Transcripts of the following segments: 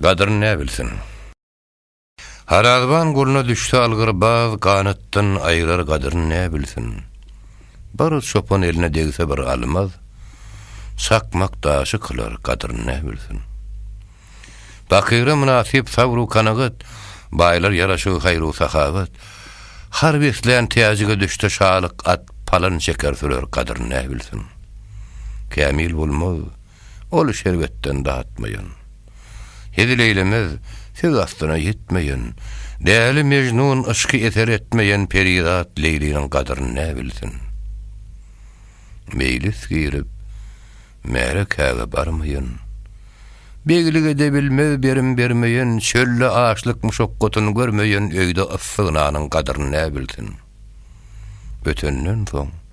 Gadryn nä bilsin. Harazban goluna düşse algyr baz ganatdan aýrar gadryn nä bilsin. Bir çopan eline degse bir almaz çakmak daşy kylar gadryn nä bilsin. Bakyra mynasyp sabru kanagat baýlar ýaraşygy haýru sahawat har beslän täjige düşse şalyk at palan çeker sürer gadryn nä bilsin. Kämil bolmaz Ol şerbetden datmaýan. Hezil eýlemez, söz astyna ýetmeýän. Däli Mejnun yşky eser etmeýän perizat Leýliniň gadyryn nä bilsin. Meýlis girip, märekäge barmaýan. Beglik edebilmez berim bermeýän, çölde açlyk muşakgatyn görmeýän öýde yssy nanyň gadyryn nä bilsin. Ötenden soň.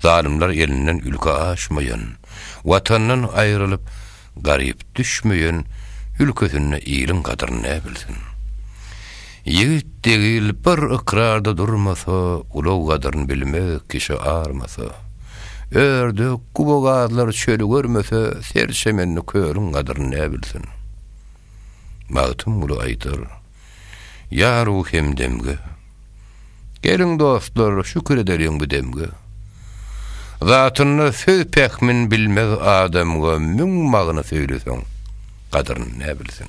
Zalymlar elinden ülke aşmaýan, Watandan aýrylyp, garyp düşmeýän Ülkesinde iliň gadyryn näbilsin? Ýigit degil bir ykrarda durmasa, Ulag gadyryn bilmez kişi armasa. Ördek, guba-gazlar çöli görmese, Serçemenli kölüň gadyryn näbilsin? Magtymguly aýdar. Ýar-u hemdemge. Geliň, dostlar, şükür edeliň bu demge. Zatynda söz pähmin bilmez adamga müň magna söýleseň, gadryn ne bilsin.